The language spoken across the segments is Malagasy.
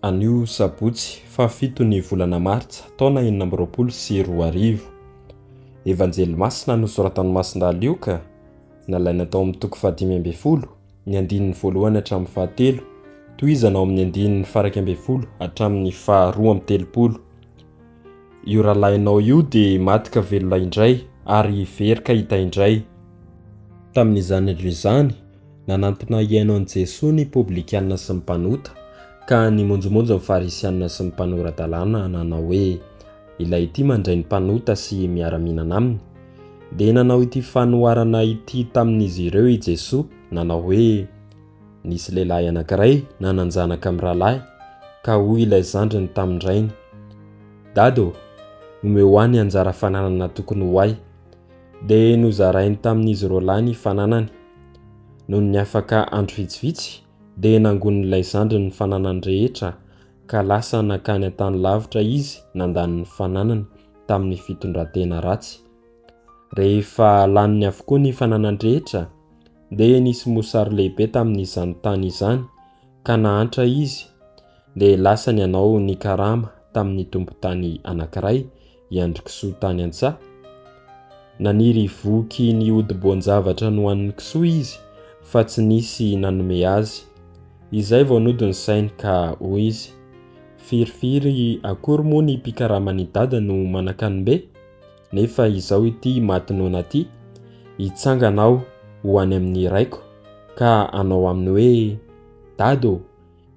Anio sabotsy fahafito ny volana martsa taona enina amby roapolo sy roa arivo. Evanjely masina nosoratan'i Masindahy Lioka, nalaina tao amin'ny toko fahadimy ambin'ny folo, ny andininy voalohany hatramin'ny fahatelo, tohizana ao amin'ny andininy faraika ambin'ny folo hatramin'ny faharoa amby telopolo. io rahalahinao io dia maty ka velona indray, ary very ka hita indray. Tamin'izany andro izany, nanantona hihaino an'i Jesoa ny Poblikanina sy ny mpanota, ka nimonjomonjo ny Farisianina sy ny mpanora-dalàna nanao hoe, Ilay ity mandray ny mpanota sy miara-mihinana aminy. Dia nanao ity fanoharana ity tamin'izy ireo i Jesoa, nanao hoe, Nisy lehilahy anankiray nanan-janaka amin'ny rahalahy, ka hoy ilay zandriny tamin-drainy, Dada ô, omeo ahy ny anjara fananana tokony ho ahy. Dia nozarainy tamin'izy roalahy ny fananany. Nony niafaka andro vitsivitsy, dia nangonin'ilay zandriny ny fananany rehetra, ka lasa nankany an-tany lavitra izy nandany ny fananany tamin'ny fitondran-tena ratsy. Rehefa laniny avokoa ny fananany rehetra, Dia nisy mosary lehibe tamin'izany tany izany, ka nahantra izy, dia lasa ny anao nikarama tamin'ny tompon-tany anankiray, i Andrikisoa tany an-tsaha. Naniry voky ny hodi-boan-javatra nohanin'i Kisoa izy, fa tsy nisy nanome azy. Izay vao nody ny sainy, ka hoy izy, Firifiry akory moa ny mpikaraman'i Dada no manan-kanombe? Nefa izao ity maty noana ity, hitsangana aho ho any amin'ny raiko ka hanao aminy hoe, Dada ô,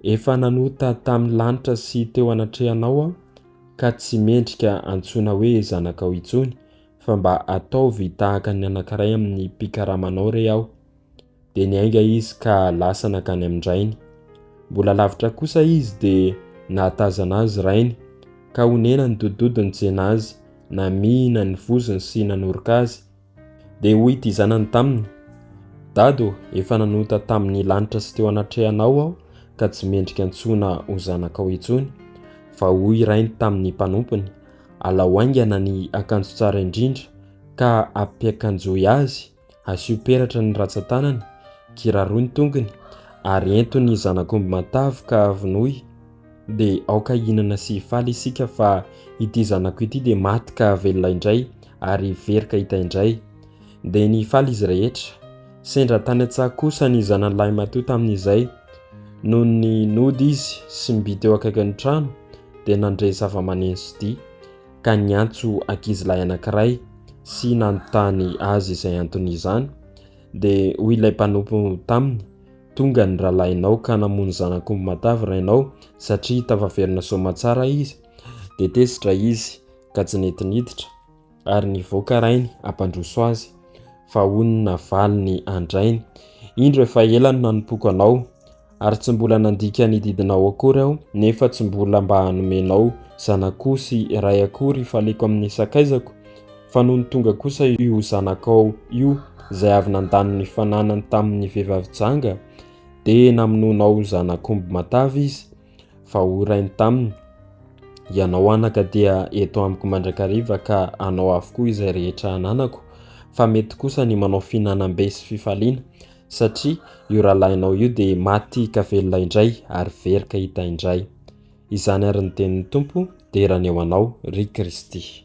efa nanota tamin'ny lanitra sy teo anatrehanao aho ka tsy mendrika antsoina hoe zanakao intsony fa mba ataovy tahaka ny anankiray amin'ny mpikaramanao re aho. dia niainga izy ka lasa nankany amin-drainy. Mbola lavitra kosa izy dia nahatazana azy rainy ka onena nidodododiny nitsena azy, namihina ny vozony sy nanoroka azy. Dia hoy ity zanany taminy, Dado, efa nanota tamin'ny lanitra sy teo anatrehanao aho ka tsy mendrika antsoina ho zanakao intsony. Fa hoy rainy tamin'ny mpanompony, Alao haingana ny akanjo tsara indrindra ka ampiakanjoy azy Asio peratra ny ratsan-tanany, kiraroy ny tongony, ary ento ny zanak'omby matavy ka vonoy, dia aoka hihinana sy hifaly isika fa ity zanako ity dia maty ka velona indray ary hivery ka hita indray. Dia nifaly izy rehetra. Sendra tany an-tsaha kosa ny zanany lahimatoa tamin'izay. Noho ny nody izy sy ny by teo akaikin'ny trano dia nandre zava-maneno sy dihy. ka niantso ankizilahy anankiray sy nanontany azy izay anton'izany, dia hoy ilay mpanompo taminy, Tonga ny rahalahinao ka namono zanak'omby matavy rainao satria tafaverina soa aman-tsara izy. Dia tezitra izy ka tsy nety niditra, ary nivoaka rainy hampandroso azy. Fa hoy ny navaliny an-drainy, Indro efa ela no nanompoako anao, ary tsy mbola nandika ny didinao akory aho nefa tsy mbola mba hanomenao zanakao sy ray akory faleko amin'ny sakaizako fa nony tonga kosa io zanakao io izay avy nandany ny fananany tamin'ny vehivavy janga dia namonoanao zanakomby matavy izy fa ho rainy taminy ianao anaka dia eto amiko mandrakariva ka anao avokoa izay rehetra ananako fa mety kosa ny manao fihinanam-be sy fifaliana satria io rahalahinao io dia maty ka velona indray ary very ka hita indray. Izany ary ny tenin'ny Tompo, dera ny eo anao, ry Kristy.